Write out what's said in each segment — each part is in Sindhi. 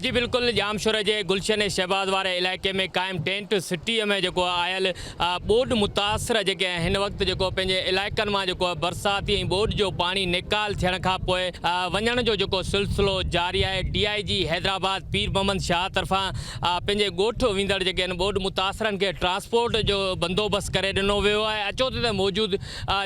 جي بلڪل ڄامشوري جي گلشن ۽ شهباز واري علائقي ۾ قائم ٽينٽ سٽيء ۾ جيڪو آيل ٻوڏ متاثر جيڪي هن وقت جيڪو پنهنجي علائقن مان جيڪو برساتي ۽ ٻوڏ جو پاڻي نيڪال ٿيڻ کان پوء وڃڻ جو جيڪو سلسلو جاري آهي ڊي آء جي حيدرآباد پير محمد شاهه طرفان پنهنجي ڳوٺ ويندڙ جيڪي هن ٻوڏ متاثرن کي ٽرانسپورٽ جو بندوبست ڪري ڏنو ويو آهي اچوتي ته موجود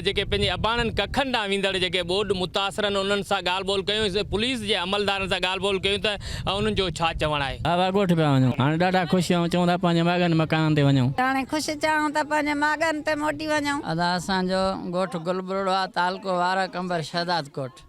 جيڪي پنهنجي اباڻن ڪکن ڏانهن ويندڙ جيڪي ٻوڏ متاثرن انهن سان ڳالهه ٻولهه ڪيون ۽ پوليس جي عملدارن سان ڳالهه ٻولهه ڪيون ته انهن جو ڇا چوڻ آهي. بابا ڳوٺ پيا وڃون هاڻي ڏاڍا خوش آهيون چئون ٿا پنهنجي ماڳن مڪانن تي وڃون. هاڻي خوش چاهون ته پنهنجي ماڳن تي موٽي وڃون. ادا اسان جو ڳوٺ گل ٻرڙو آ تعلقو وارهه قمبر شهدادڪوٽ.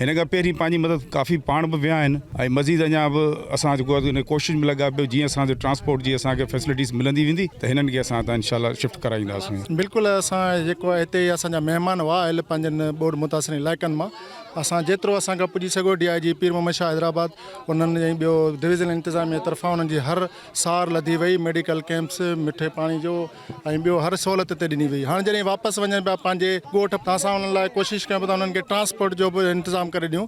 هن کان پهرين پنهنجي مدد ڪافي پاڻ به ويا آهن ۽ مزيد اڃا به اسان جيڪو آهي ان ڪوشش ۾ لڳا پيو جيئن اسان جو ٽرانسپورٽ جي اسان کي فيسلٽيز ملندي ويندي ته هنن کي اسان هتان انشاء الله شفٽ ڪرائينداسون. بلڪل اسان جيڪو آهي هتي اسان جا مهمان هئا آيل پنهنجن ٻوڏ متاثرين علائقن مان اسان جيترو اسان کان پڄي سگهيو ڊي آء جي پير محمد شاهه حيدرآباد انهن ۽ ٻيو ڊويزنل انتظاميه طرفان انهن جي هر سار لڌي وئي ميڊيڪل ڪيمپس مٺي پاڻي جو ۽ ٻيو هر سهولت هتي ڏني وئي هاڻ جڏهن واپس وڃن پيا پنهنجي ڳوٺ تان اسان انهن لاء ڪوشش ڪيون پيون ته انهن کي ٽرانسپورٽ جو به انتظام ڪري ڏيون